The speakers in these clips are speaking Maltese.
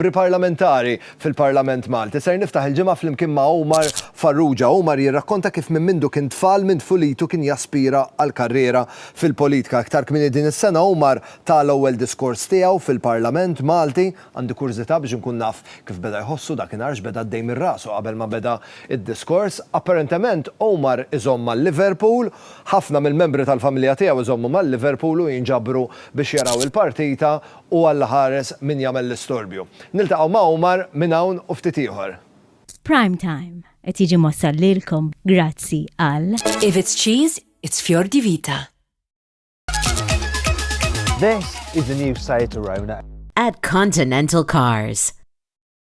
Membri Parlamentari fil-Parlament Malti. Ser niftaħ il-ġimgħa flimkien ma' Omar Farrugia. Omar jirrakkonta kif minn mindu kien tfal minn tfulitu kien jaspira għal karriera fil-politika. Iktar kmieni din is-sena Omar ta l-ewwel diskors tiegħu fil-Parlament Malti. Għandi kurżità biex inkun naf kif beda jħossu dakinhar, x'beda għaddej minn rasu qabel ma beda d-diskors. Apparentement Omar iżomm ma' Liverpool. Ħafna mill-membri tal-familja tiegħu jżommu ma' Liverpool u jinġabru biex jaraw il-partita. U Alla ħares min jagħmel l-istorbju. Niltaqgħu ma' Omar minn hawn u ftit ieħor. Prime Time qed jiġi mwassal lilkom grazzi għal. If it's cheese, it's fior di vita. This is the new Saitorona. At Continental Cars.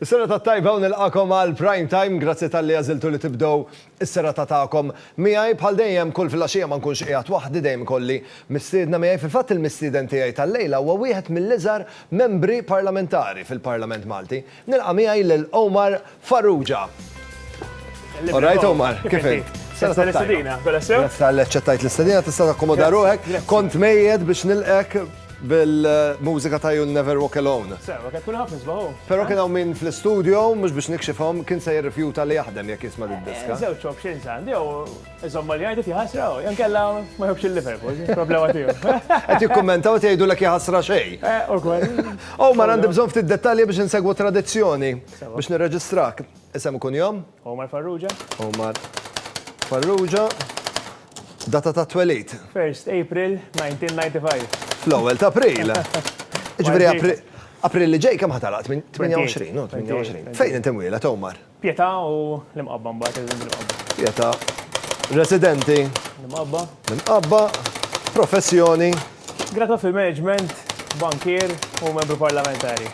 Is-serata t-tajba u nilqagħkom għal Prime Time, grazzi talli għażiltu li tibdew is-serata tagħkom miegħi. Bħal dejjem kull filgħaxija ma nkunx qiegħed waħdi dejjem ikolli mistiedna miegħi. Fil-fatt il-mistieden tiegħi tal-lejla huwa wieħed mill-iżgħar membri parlamentari fil-Parlament Malti. Nilqa' miegħi lil Omar Farrugia. All right Omar, kif int? Serata t-tajba. Grazzi tal-li aċċettajt l-istedina, tista' takkomoda ruħek. Kont mejjed biex nilqgħek Bil-mużika ta' You'll Never Walk Alone. Sewa, kien kulħadd nisbaħu. Però kien hawn min fl-istudio, mhux biex nikxifhom, kien se jirrifjuta li jaħdem jekk jisma' did-diska. Żewġ options għandi, jew iżommha li jgħidlek jaħasra, jew inkella ma jħobbx il-Liverpool, problema tiegħu. Qed jikkummentaw qed jgħidulek jaħasra xejn. Eh, ukoll. Omar, għandi bżonn ftit dettalji biex insegwu tradizzjoni biex nirreġistrak. Isem u kunjom? Omar Farrugia. Omar Farrugia. Data ta' twelid. 1st April 1995. Fl-ewwel ta' April. Ġifieri April. April li ġej kemm ħatalaq? 28, no? 28. Fejn inti mwieled, Omar? Pietà u l-Imqabba mbagħad irridu l-Imqabba. Pietà. Residenti? L-Imqabba. L-Imqabba. Professjoni? Gradwat fil-Management, bankier u membru parlamentari.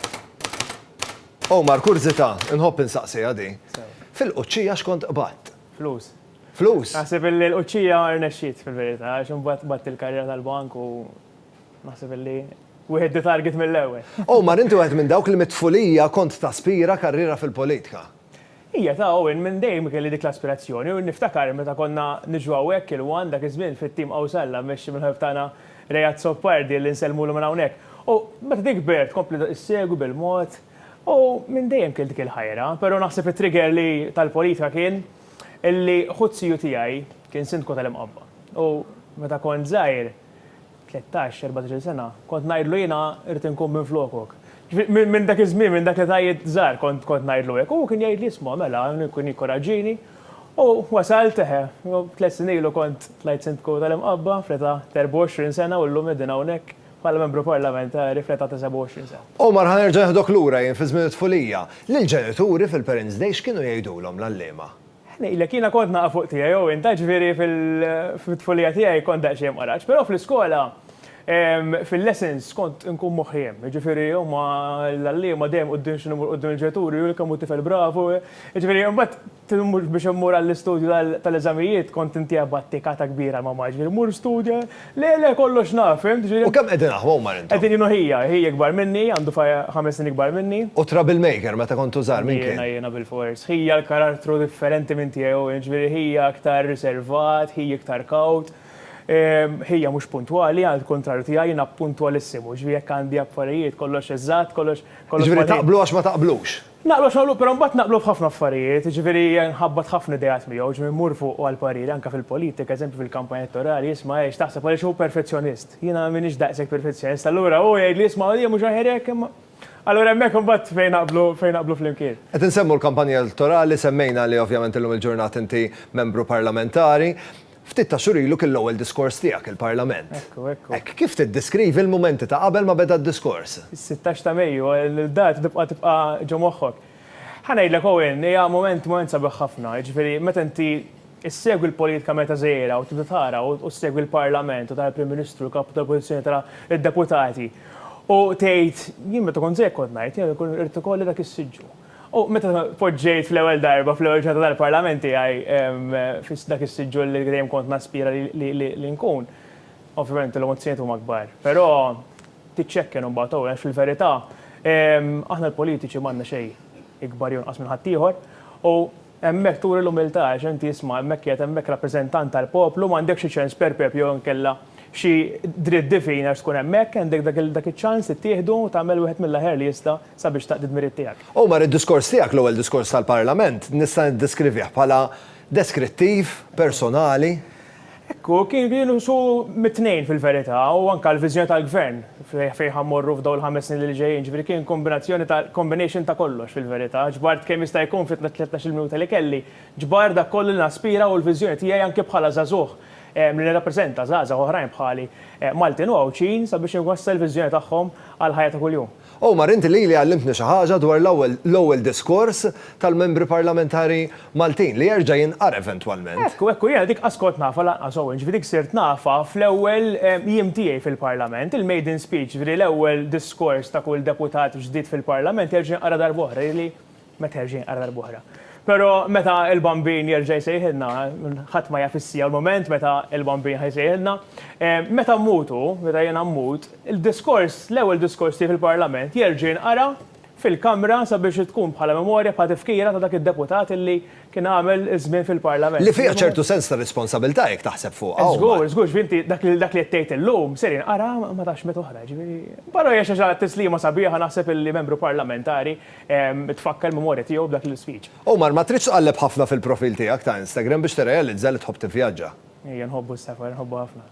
Omar, kurżità, inħobb insaqsiha di. Sew. Fil-Quċċija x'kont qbadt? Flus. Flus? Naħseb illi l-Quċċija rnexxiet fil-verità għax imbagħad qbadt il-karriera tal-bank u naħseb illi wieħed di target mill-ewwel. Omar, inti wieħed minn dawk li mit-tfulija kont taspira karriera fil-politika. Hija ta' hawn minn dejjem kelli dik l-aspirazzjoni u niftakar meta konna niġu hawnhekk il-one dak iż-żmien fit-tim Qawsalla mmexxi mill-ħabib tagħna Ray Azzopardi li nsellmulu minn hawnhekk u meta din kbirt kompliet issegwi bil-mod u minn dejjem kelli dik il-ħajra però naħseb it-trigger li tal-politika kien illi ħu t-siju tiegħi kien Sindku tal-Imqabba u meta kont żgħir Tlettax, erbatx-il sena, kont ngħidlu jiena rrid inkun minflokok. Ġifieri minn dak iż-żmien, minn dak l-età żgħar kont kont ngħidlu hekk. U hu kien jgħidli isma' mela, kien jikkoraġġini. U wasalt, eħe, tliet snin ilu kont tlajt Sindku tal-Imqabba fl-età ta' erbgħa u għoxrin sena u llum qegħdin hawnhekk bħala Membru Parlamentari fl-età ta' sebgħa u għoxrin sena. Omar ħa nerġa' nieħdok lura jien fi żmien it-tfulija. Lill-ġenituri fil-Parents' Day x'kienu jgħidulhom l-għalliema? Ngħidlek, jiena kont naqa' fuq tiegħi, Owen, ta' ġifieri fit-tfulija tiegħi kont daqsxejn mqaraġ, però fl-iskola fil-lessons kont inkun moħħi hemm, jiġifieri huma l-għalliema dejjem quddiem x'inhu mmur quddiem il-ġenituri, hu kemm hu tifel bravu, jiġifieri imbagħad biex immur għall-istudju tal-eżamijiet kont intiegħi b'attikata kbira l-mamma, jiġifieri mur studja, Le, le, kollox naf, fimt, ġieli. U kemm qegħdin aħwa huma intom? Qegħdin jien u ħija, ħi ikbar minni, għandu ħames snin ikbar minni. U trouble maker meta kontu żgħar, min kien? Jiena, jiena bilfors. Ħija l-karattru differenti minn tiegħi u jien, ġieli ħija aktar riservat, ħi iktar kawt. Ħija mhux puntwali, għall-kuntrarju tiegħi, jiena puntwalissimu, ġieli jekk għandi affarijiet kollox eżatt, kollox, kollox. Ġieli taqblu għax ma taqblux? Naqblu x'naqblu, però mbagħad naqblu f'ħafna affarijiet, jiġifieri nħabbat ħafna ideat miegħu, jiġifieri mmur fuqu għal pariri anke fil-politika, eżempju fil-kampanja elettorali, isma' eh x'taħseb għaliex hu perfezzjonist. Jiena m'iniex daqshekk perfezzjonist, allura hu jgħidli isma' hija mhux aħjar hekk imma. Allura hemmhekk imbagħad fejn naqblu fejn naqblu flimkien. Qed insemmu l-kampanja elettorali, semmejna li ovvjament illum il-ġurnata inti membru parlamentari. Ftit ta' xhur ilu kien l-ewwel diskors tiegħek il-Parlament. Ekku, ekku. Hekk, kif tiddeskrivi l-mumenti ta' qabel ma beda d-diskors? Is-sittax ta' Mejju, il-data tibqa' tibqa' ġo moħħok. Ħa ngħidlek Owen, hija mument, mument sabiħ ħafna. Jiġifieri meta inti ssegwi l-politika meta żgħira u tibda tara u ssegwi l-Parlament u tara l-Prim Ministru, l-Kapu tal-Oppożizzjoni, tara d-Deputati u tgħid, jien meta kont żgħir kont ngħid, jien irrid ikolli dak is-siġġu. U meta tpoġġejt fl-ewwel darba, fl-ewwel ġurnata tal-Parlament tiegħi, fi dak is-siġġu li dejjem kont naspira li nkun, ovvjament l-emozzjonijiet huma kbar. Però tiċċekken imbagħad ukoll għax fil-verità aħna l-politiċi m'għandna xejn ikbar jew inqas minn ħaddieħor u Hemmhekk turi l-umiltà għax inti isma' hemmhekk qiegħed hemmhekk rappreżentant tal-poplu, m'għandekx xi ċens per pep jew inkella xi dritt divin għax tkun hemmhekk, għandek dak iċ-ċans li ttieħdu u tagħmel wieħed mill-aħjar li jista' sabiex taqdi d-dmirijiet tiegħek. Omar, id-diskors tiegħek, l-ewwel diskors tal-Parlament, nista' niddeskrivih bħala deskrittiv, personali, Hekk hu, kien jieqsu mit-tnejn fil-verità u anke l-viżjoni tal-Gvern fejn ħa mmorru f'dawn il-ħames snin li ġejjin, ġifieri kien kombinazzjoni ta' combination ta' kollox fil-verità. Ġbart kemm jista' jkun fit-tlettax-il minuta li kelli, ġbart dak kollu li naspira u l-viżjoni tiegħi anke bħala żagħżugħ li nirrappreżenta żgħażagħ oħrajn bħali Maltin u Għawdxin sabiex inwassal il-viżjoni tagħhom għall-ħajja ta' kuljum. Omar, inti lili għallimtni xi ħaġa dwar l-ewwel l-ewwel diskors tal-membri parlamentari Maltin, li jerġa' jinqara eventwalment. Hekk hu, hekk hu. Jiena dik qas kont nafha lanqas, Owen, ġifieri dik sirt nafha fl-ewwel jiem tiegħi fil-Parlament. Il-maiden speech, ġifieri l-ewwel diskors ta' kull deputat ġdid fil-Parlament jerġa' jinqara darb'oħra, jidhirli Meta jerġa' jinqara darb'oħra. Però meta l-Bambin jerġa' jsejħilna, ħadd ma jaf is-siegħa u l-mument meta l-Bambin ħa jsejħilna. Meta mmutu, meta jiena mmut, il-diskors, l-ewwel diskors tiegħi fil-Parlament jerġa' jinqara fil-Kamra sabiex tkun bħala memorja, bħala tifkira ta' dak id-deputat illi kien għamel żmien fil-Parlament. Li fiha ċertu sens ta' responsabilità jekk taħseb fuqha wkoll. Żgur, żgur, ġifieri inti dak li qed tgħid illum ser jinqara ma tafx meta oħra, ġifieri. Però hija xi ħaġa, tislima sabiħa naħseb illi membru parlamentari, tfakkar il-memorja tiegħu b'dak l-isfig. Omar, ma tridx tqalleb ħafna fil-profil tiegħek ta' Instagram biex tirrealizza li tħobb tivvjaġġa. Ejja, nħobbu s-safar, nħobbu ħafna.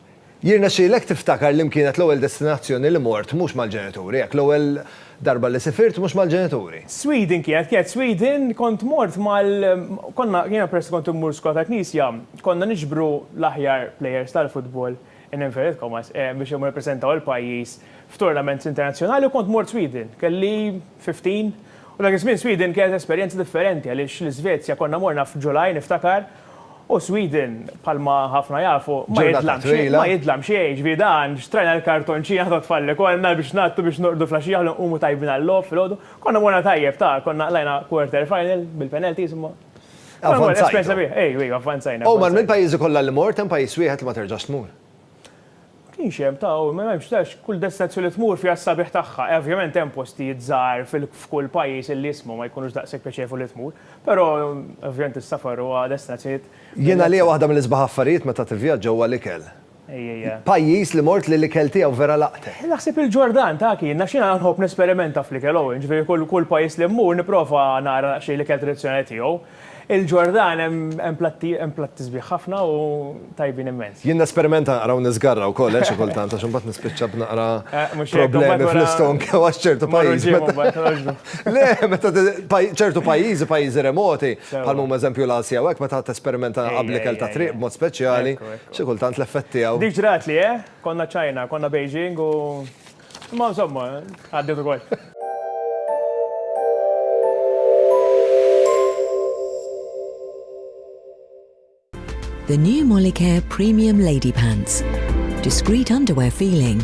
Jirnexxielek tiftakar li m'kienet l-ewwel destinazzjoni li mort mhux mal-ġenituri, hekk, l-ewwel darba li sifirt mhux mal-ġenituri? Sweden kienet, kienet Sweden, kont mort mal, konna, jiena peress li kont immur skola tal-Knisja, konna niġbru l-aħjar players tal-futbol in inverted commas, biex imur nippreżentaw il-pajjiż f'tournaments internazzjonali u kont mort Sweden. Kelli 15 u dak iż-żmien Sweden kienet esperjenza differenti għaliex l-Iżvezja konna morna f'July niftakar u Sweden bħalma ħafna jafu ma jidlam xejn, ma jidlam xejn, jiġifieri dan xtrajna l-kartonċina ta' tfal li konna biex ngħaddu biex norqdu flaxija ħalli nqumu tajbin għal-logħob filgħodu. Konna morna tajjeb ta' konna qlajna quarter final bil-penalties imma. Avvanzajna. U man minn pajjiżi kollha li mort hemm pajjiż wieħed li ma terġax tmur. Ma kienx hemm ta' u ma hemmx tax kull destinazzjoni li tmur fiha s-sabiħ tagħha. Ovvjament hemm postijiet żgħar f'kull pajjiż illi jisma' ma jkunux daqshekk pjaċevoli li tmur, però ovvjament is-safar huwa destinazzjonijiet. Jien għalija waħda mill-isbaħ affarijiet meta tivvjaġġa huwa l-ikel. Pajjiż li mort li l-ikel tiegħu vera laqtet. Naħseb il-Ġordan ta' Akin għax jiena nħobb nesperimenta fl-ikel hawn, ġifieri kull pajjiż li mmur nipprova nara naqxie l-ikel tradizzjonali tiegħu. Il-Ġordan hemm platti hemm platti sbieħ ħafna u tajbin immens. Jien nesperimenta naqra u niżgarra wkoll eh xi kultant għax imbagħad nispiċċa b'naqra problemi fl-istonk għax ċertu pajjiżi Le meta ċertu pajjiżi pajjiżi remoti bħal huma eżempju l-Asja u hekk meta tesperimenta naqra bl-ikel tat-triq b'mod speċjali. Xi kultant l-effett tiegħu. Dik ġratli, eh? Konna China, konna Beijing u. Imma insomma, għaddiet ukoll. The new Molicare Premium Lady Pants. Discreet underwear feeling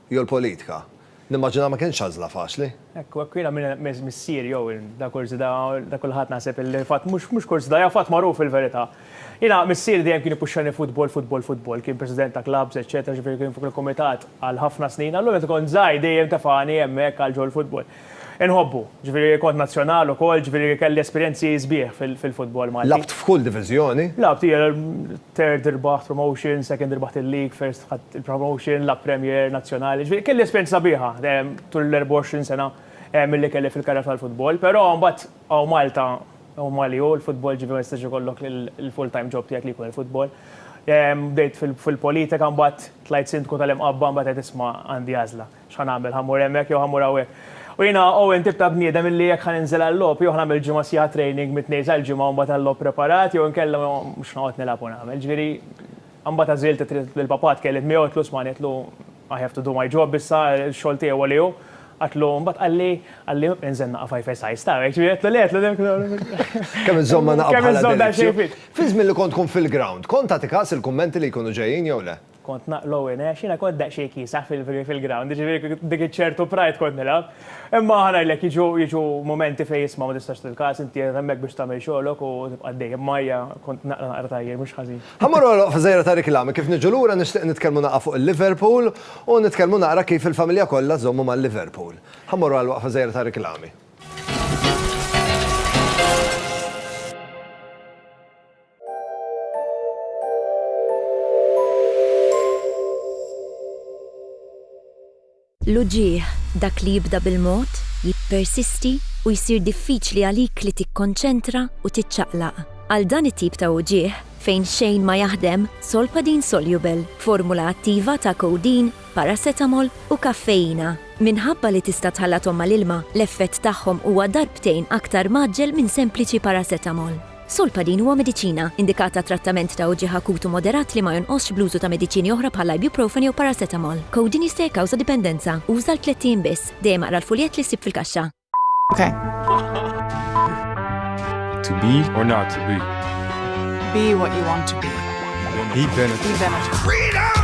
Jew l-politika. Nimmaġina ma kinitx għażla faċli. Hekk u hekk jiena minn missieri jew ta' kurżità ta' kulħadd naħseb illi fatt mhux kurżità hija fatt magħruf fil-verità. Jiena missieri dejjem kien ipuxxani futbol futbol futbol kien president ta' klabbs eċċetera ġifieri kien fuq il-kumitat għal ħafna snin allura meta kont żgħir dejjem tefagħni hemmhekk għal ġol-futbol. Inħobbu, ġifieri kont nazzjonal ukoll, ġifieri kelli esperjenzi sbieħ fil-futbol Malti. Lagħbt f'kull diviżjoni? Lagħbt, hija third irbaħt promotion, second irbaħt il-league, first ħadt il-promotion, lagħbt Premier, Nazzjonali, ġifieri kelli esperjenza sabiħa tul l-24 sena milli kelli fil-karriera tal-futbol. Però mbagħad hawn Malta huma li hu l-futbol ġifieri ma jistax ikollok il-full time job tiegħek li jkun il-futbol. Bdejt fil-politika mbagħad tlajt Sindku tal-Imqabba mbagħad għedt isma' għandi għażla. X'ħa nagħmel, ħa mmur hemmhekk jew ħa mmur hawnhekk? U jiena Owen tip ta' bniedem illi jekk ħa ninżel għal-logħob jew ħa nagħmel ġimgħa sħiħa training mit-Tnejn sal-Ġimgħa u mbagħad għal-logħob preparat jew inkella mhux noqgħod nilgħab u nagħmel. Ġifieri mbagħad għażilt it-triq li l-papà tkellimt miegħu għedtlu smagħni għedtlu I have to do my job issa x-xogħol tiegħi huwa li hu. Għedtlu mbagħad qalli qalli inżel naqaf five a size tara hekk ġifieri għedtlu le għedtlu Kemm iżżomm ma naqaf bħala delizzju. Kemm iżżomm daqsxejn fit. Fi żmien li kont tkun fil-ground, kont tagħti kas il-kummenti li jkunu ġejjin jew le? Kont naqlow in għax jiena kont daqsxejn kiesaħ fil-ground, jiġifieri dik iċ-ċertu pride kont nilgħab. Imma ħa ngħidlek jiġu jiġu mumenti fejn isma' ma tistax tilkas, inti qiegħed hemmhekk biex tagħmel xogħlok u tibqa' għaddej. Imma hija kont naqra naqra tajjeb mhux ħażin. Ħa mmorru għal waqfa żgħira ta' riklami, kif niġu lura nixtieq nitkellmu naqgħa fuq il-Liverpool u nitkellmu naqra kif il-familja kollha żommu mal-Liverpool. Ħa mmorru għal waqfa żgħira ta' riklami. L-uġigħ, dak li jibda bil-mod, jippersisti u jsir diffiċli għalik li tikkonċentra u tiċċaqlaq. Għal dan it-tip ta' uġigħ fejn xejn ma jaħdem, Solpadeine Soluble, formula attiva ta' codeine, paracetamol u kaffeina. Minħabba li tista' tħallathom mal-ilma, l-effett tagħhom huwa darbtejn aktar mgħaġġel minn sempliċi paracetamol. Solpadeine huwa mediċina, indikat għat-trattament ta' uġigħ akut u moderat li ma jonqosx bl-użu ta' mediċini oħra bħal ibuprofen jew paracetamol. Codeine jista' jikkawża dipendenza. Uża għal tlett ijiem biss. Dejjem aqra l-fuljett li ssib fil-kaxxa. To be or not to be. Be what you want to be. Be benefit. Be benefit. Freedom!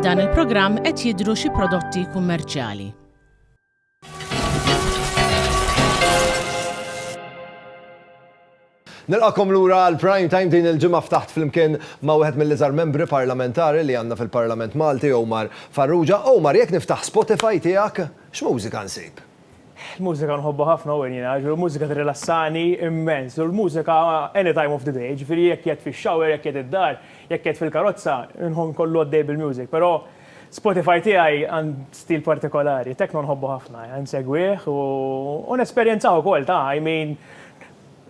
F'dan il-programm qed jidhru xi prodotti kummerċjali. Nilqakom lura għal prime time din il-ġimgħa ftaħt flimkien ma' wieħed mill-iżgħar membri parlamentari li għandna fil-Parlament Malti Omar Farrugia. Omar, jekk niftaħ Spotify tiegħek, x'mużika nsib? Il-mużika nħobbha ħafna Owen jiena, ġifieri l-mużika tirrilassani immens. U l-mużika any time of the day, ġifieri jekk qiegħed fix-shower, jekk qiegħed id-dar, jekk qiegħed fil-karozza, inħobb nkollu għaddej bil-music. Però Spotify tiegħi għand stil partikolari, techno nħobbu ħafna, insegwih u nesperjenzah ukoll, ta' I mean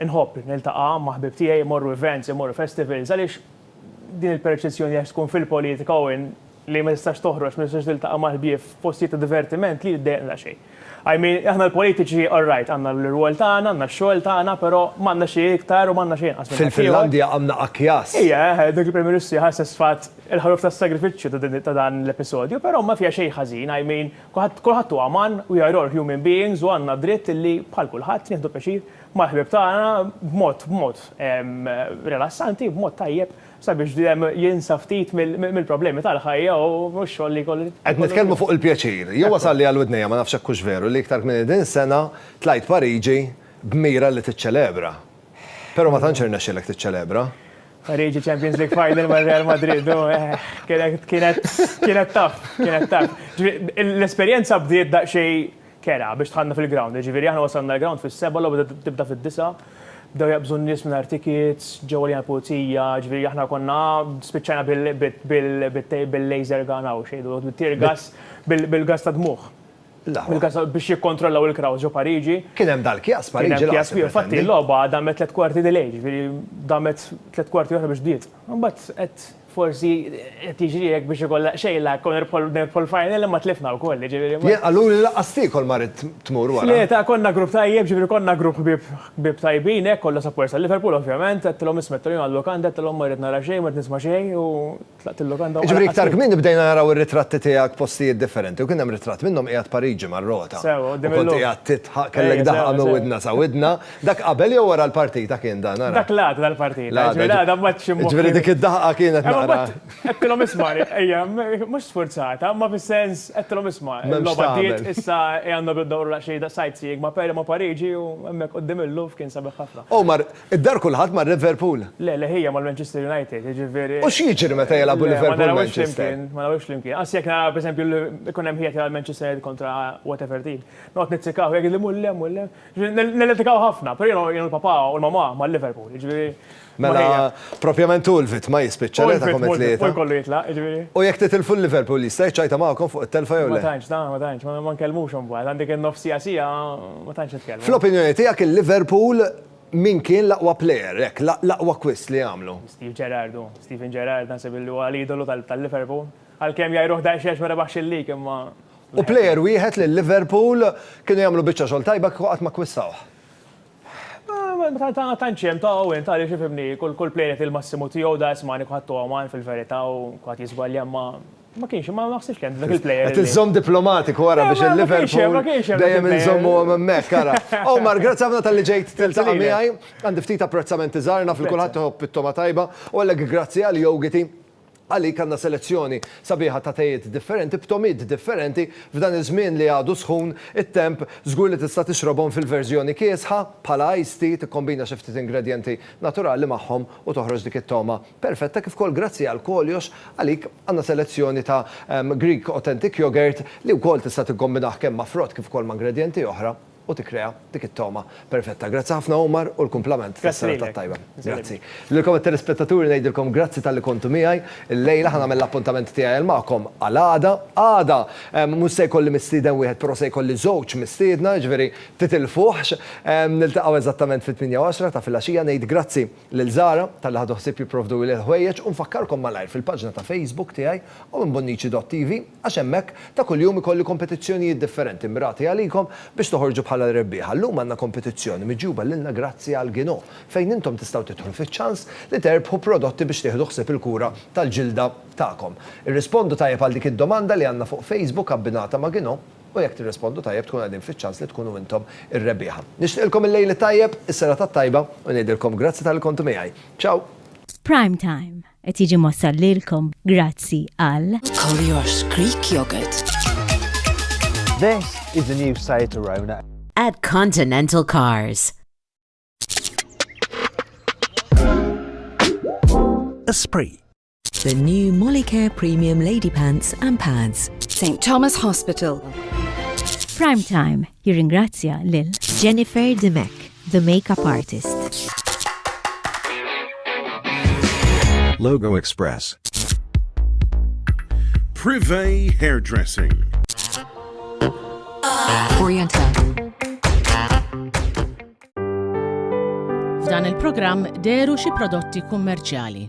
inħobb niltaqa' ma' ħbieb tiegħi, immorru events, immorru festivals għaliex Din il-perċezzjoni għax tkun fil-politika u in li ma tistax toħroġ, ma tistax tiltaqa' mal-ħbieb f'postijiet ta' divertiment li ddejjaqna daqsxejn. I mean, aħna l-politiċi all right, għandna l-irwol tagħna, għandna x-xogħol tagħna, però m'għandna xejn iktar u m'għandna xejn inqas minn dak ieħor. Fil-Finlandja għandna akjas. Ija, eħe, dik il-Prim Ministru hija ħasset f'fatt il-ħaruf tas-sagrifiċċju ta' din ta' dan l-episodju, però ma fiha xejn ħażin, I mean, kulħadd kulħadd huwa uman, we are all human beings u għandna d-dritt li bħal kulħadd nieħdu pjaċir mal-ħbieb tagħna b'mod b'mod rilassanti, b'mod tajjeb sabiex dejjem jinsa ftit mill-problemi tal-ħajja u x-xogħol li jkollu. Qed nitkellmu fuq il-pjaċir. Jien wasalli għal widnejja, ma nafx hekk hux veru, li iktar kmieni din is-sena tlajt Pariġi b'mira li tiċċelebra. Però ma tantx irnexxielek tiċċelebra. Pariġi Champions League final ma' Real Madrid, hu ehh, kienet kienet kienet tough, kienet tough. L-esperjenza bdiet daqsxejn kera biex dħalna fil-ground, jiġifieri aħna wasalna l-ground fis-sebgħa, logħba bdiet tibda fid-disgħa, bdew jaqbżu n-nies mingħajr tickets, ġew għalina l-pulizija, jiġifieri aħna konna spiċċajna bil-laser gun, hawn x'jgħidu, bit-tear gas, bil-gas tad-dmugħ, bil-gas biex jikkontrollaw il-crowds ġo Pariġi. Kien hemm dal-kjass Pariġi lanqas. Kien hemm kjass kbir, infatti l-logħba damet tliet kwarti delay, jiġifieri damet tliet kwarti oħra biex bdiet. Imbagħad qed. Forsi qed jiġri hekk biex ikollha xejla jkun nerbħu l-final imma tlifna wkoll, jiġifieri. Jien qaluli lanqas tiekol ma ridt tmur wara. Tlieta, konna grupp tajjeb, jiġifieri konna grupp ħbieb ħbieb tajbin hekk, kollha supporters tal-Liverpool ovvjament, għedtilhom isma' għedtilhom jien għal-lukanda għedtilhom ma rrid nara xejn, ma rrid nisma' xejn u tlaqt il-lukanda u. Jiġifieri iktar kmieni bdejna naraw ir-ritratti tiegħek f'postijiet differenti u kien hemm ritratt minnhom qiegħed Pariġi mar-rota. Sewwa, quddiem il-logħob. U kont qiegħed tidħaq, kellek daħqa minn widna sa widna, Dak qabel jew wara l-partita kien dan, ara? Dak l-għada tal-partita, ġifieri l-għada mbagħad xi moħħ. Ġifieri dik id-daħqa kienet naqra. Għedtilhom isma' ejja, mhux sfurzata, imma fis-sens għedtilhom isma' l-logħba għaddiet, issa ejja nagħmlu dawrulha xi sightseeing ma' Peri ma' Pariġi u hemmhekk quddiem il-Louvre kien sabiħ ħafna. U mar, id-dar kulħadd mar Liverpool? Le, le ħija mal-Manchester United, jiġifieri. U x'jiġri meta jilagħbu Liverpool u Manchester? Le, ma narawhiex flimkien, ma narawhiex flimkien. Anzi jekk nara pereżempju ikun hemm ħija tilgħab Manchester United kontra whatever team, noqgħod nizzikah u jgħidli mhu hemm, mhu hemm. Nilletikaw ħafna, pero jenu jenu l-papa u l-mama ma' Liverpool, ġviri. Mela, propjament u l-vitma jispicċa li ta' komet li. U jkollu jitla, ġviri. U jek titilfu l-Liverpool jista' jċajta ma'kom fuq il-telfa jew le? Ma tanċ, da, ma tanċ, ma nkellmux un bad, għandik il-nof sija sija, ma tanċ nitkellmu. Fl-opinjoni tijak il-Liverpool min kien l-aqwa player, ek, l-aqwa kwist li għamlu? Steve Gerrard u, Steven Gerrard, nasib li huwa l-idolu tal-Liverpool. Għal-kem jgħajruħ daqxiex ma rebaħx il-lig, imma. U plejer wieħed li Liverpool kienu jagħmlu biċċa xogħol tajba kieku qatt ma kkwistawh. Ma tantx hemm ta' Owen ta' għaliex ifhimni, kull plejer jagħti l-massimu tiegħu da isma' nieku ħadd Owen fil-verità u kulħadd jiżbalja imma ma kienx ma naħsibx li hemm dak il-plejer. Qed iżżomm diplomatiku ara biex il-Liverpool dejjem inżommuhom hemmhekk ara. Omar, grazzi ħafna talli ġejt tiltaqa' miegħi. Għandi ftit apprezzamenti żgħar naf li kulħadd iħobb it-togħma tajba u għalhekk grazzi għal jogiti Għalik għandna selezzjoni sabiħa ta' tejiet differenti b'tomid differenti f'dan iż-żmien li għadu sħun, it-temp, żgur li tista' tixrobhom fil-verżjoni kiesħa bħala iced tea tikkombina xi ftit ingredjenti naturali magħhom u toħroġ dik it-togħma perfetta kif ukoll grazzi għal koljox għalik għandna selezzjoni ta' Greek Authentic Yoghurt li wkoll tista' tikkombinah kemm ma' frott kif ukoll ma' ingredjenti oħra. u tikkrea dik it-togħma perfetta. Grazzi ħafna Omar u l-kumplament tas-serata t-tajba. Grazzi. Lilkom it-telespettaturi ngħidilkom grazzi talli kontu miegħi llejla, ħa nagħmel l-appuntament tiegħi magħkom għal għada. Għada mhux se jkolli mistieden wieħed però se jkolli żewġ mistiedna, jiġifieri titilfuhx. Niltaqgħu eżattament fit-tmienja u għaxra ta' filgħaxija. Ngħid grazzi. lil Zara talli ħadu ħsieb jipprovduli l-ħwejjeġ u nfakkarkom malajr fil-paġna ta' Facebook tiegħi owenbonnici.tv għax hemmhekk ta' kuljum ikolli kompetizzjonijiet differenti mmirati għalikom biex toħorġu bħala r-rebbieħa. Llum għandna kompetizzjoni miġjuba lilna grazzi għal Gino fejn intom tistgħu tidħlu fiċ-ċans li terbħu prodotti biex tieħdu ħsieb il-kura tal-ġilda tagħkom. Irrispondu tajjeb għal dik id-domanda li għandna fuq Facebook abbinata ma' Gino. u jekk tirrispondu tajjeb tkunu qegħdin fiċ-ċans li tkunu intom ir-rebbieħa. Nixtieqilkom il-lejl it-tajjeb, is-serata t-tajba u ngħidilkom grazzi talli kontu miegħi. Ciao! Prime Time qed jiġi mwassal lilkom grazzi għal. Kollox Greek Yogurt. This is the new Seat Arona. At Continental Cars. Esprit. The new Molicare Premium Lady Pants and Pads. St. Thomas Hospital. Prime Time jirringrazzja lil Jennifer Demek, the makeup artist. Logo Express. Privé Hairdressing. Orienta. F'dan il-programm deru xi prodotti kummerċjali.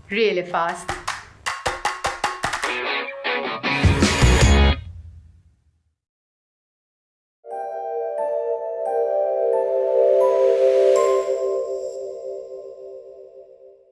Really fast.